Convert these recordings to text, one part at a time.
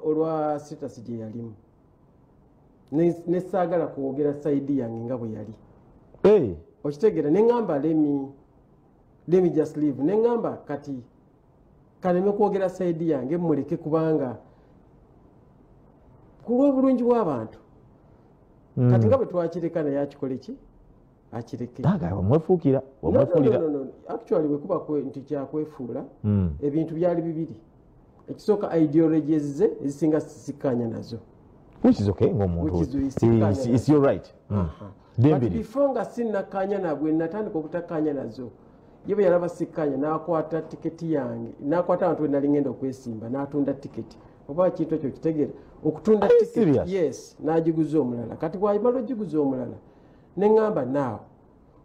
olwa sitasi gye yalimu nesaagala kwogera saidi yange nga bwe yali eh. okitegeera neŋamba lemi lemi just live neŋamba kati kaleme kwogera saidi yange muleke kubanga kulwobulungi bwabantu hmm. kati nga bwe twakireka naye akikole ki akirkmwefuukira actually wekuba nti kyakwefuula hmm. ebintu byali bibiri ekisooka ideologies ze ezisinga sisikanya nazo before nga sinakanya nabwe natandika okutakanya nazo ye bwe yalaba sikkanya n'akwata tiketi yange n'akwata abantu be nali ngenda okwesimba n'atunda tiketi oba kintu ekyo kitegera okutunda yes n'agiguza omulala kati bwayimala ogiguza omulala ne ŋŋamba naawe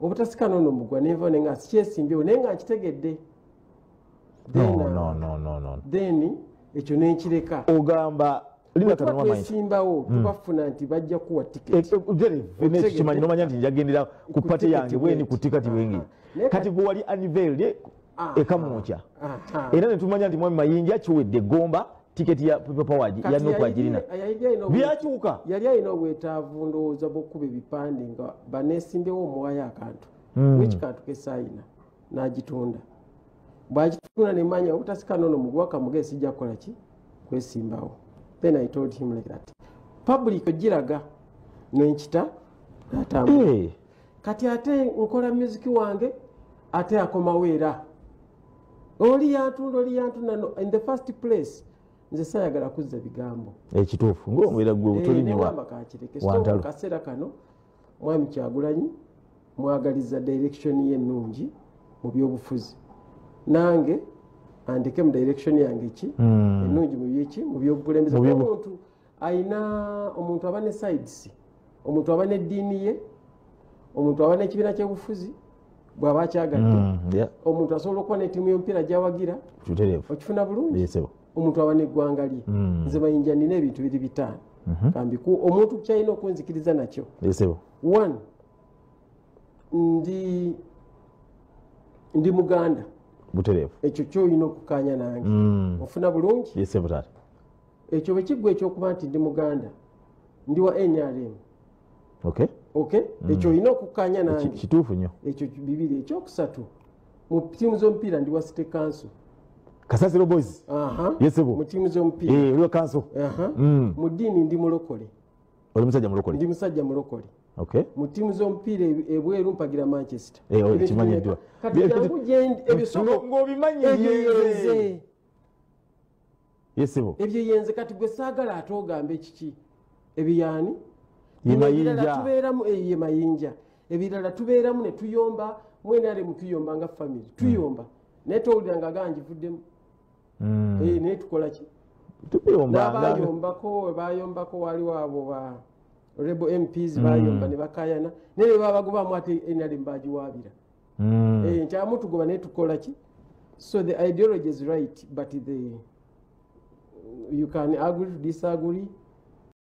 obutasikana ono mugwa nenva ne nga sikyesimbyewo naye nga nkitegedde then ekyo nenkireka ogamba twesimbawo hmm. tubafuna nti bajja kuwa tiketikimanyi eh, eh, nomanya nti njagendera ku pate yange bweni ku tikati wengi kati gwewali anivelde ah. ekamwokya ah, ah. era netumanya nti mwami mayinja kiwedde gomba tiketi ya people power ya nuku ajirina byakyuka yali alina obwetaavu ndowooza bwokuba ebipande nga banesimbewo omuwayo akantu hmm. wiki kantu kesayina nagitunda bwagitunda nemanya obutasika nono muguwa kamuge sijja kukola ki kwesimbawo then i told him like that public ogiraga nenkita natambula hey. Eh. kati ate nkola music wange ate akomawo era oli yantunda oli yantunda in the first place nze sayagala kuzza bigambo ekituufu ngaomubeera gwe obutolinewakakirekeakaseera eh, kano mwami kyagulanyi mwagaliza direction ye ennungi mu byobufuzi nange andeke mu direction yange ki hmm. ennungi mubyeki mu byobukulembeze bwomuntu ayina omuntu aba ne sides omuntu aba neddiini ye omuntu aba nekibiina kyebufuzi bwaba akyagadde mm, omuntu asobola okuba netiimu yomupiira gyawagira okifuna bulungi omuntu aba neggwanga lye mm. nze mayinja nina ebintu biri bitaano mhm. kambi omuntu kyalina okunzikiriza nakyo one ndi ndi muganda butereevu ekyo kyoyina okukanya nange mm. ofuna bulungi ekyo bwe kiggwa ekyokuba nti ndi muganda ndi wa nrm okay okay mm. ekyo olina okukkaanya nange kituufu nyo ekyo bibiri ekyokusatu mu tiimu z'omupiira ndi wa city council kasasiro boys yesebo mu tiimu z'omupiira eh, oliwa council mm. mu ddiini ndi mulokole oli musajja mulokole ndi musajja mulokole mu ttiimu z'omupiira ebweru mpagira manchester eh, oh, kimanyiddwa kati jangu gyendi ebisonga ng'obimanyi ebyeyereze yesibo ebyo yenze kati gwe saagala ate ogamba ekiki ebiyaani yemayinja tubeeramu eh, ye mayinja ebirala tubeeramu ne tuyomba mwenale mutuyomba nga famiry hmm. tuyomba naye towulira nga gaa njivuddemu hmm. eh, naye tukolaki nabayombako webayombako wali wabo ba rebo mps bayomba hmm. ne bakayana naye bebabagobamu ate nrm bagiwaabira mm. eh, nkyamu tugoba naye tukola ki so the ideology is right but the you can agree to disagree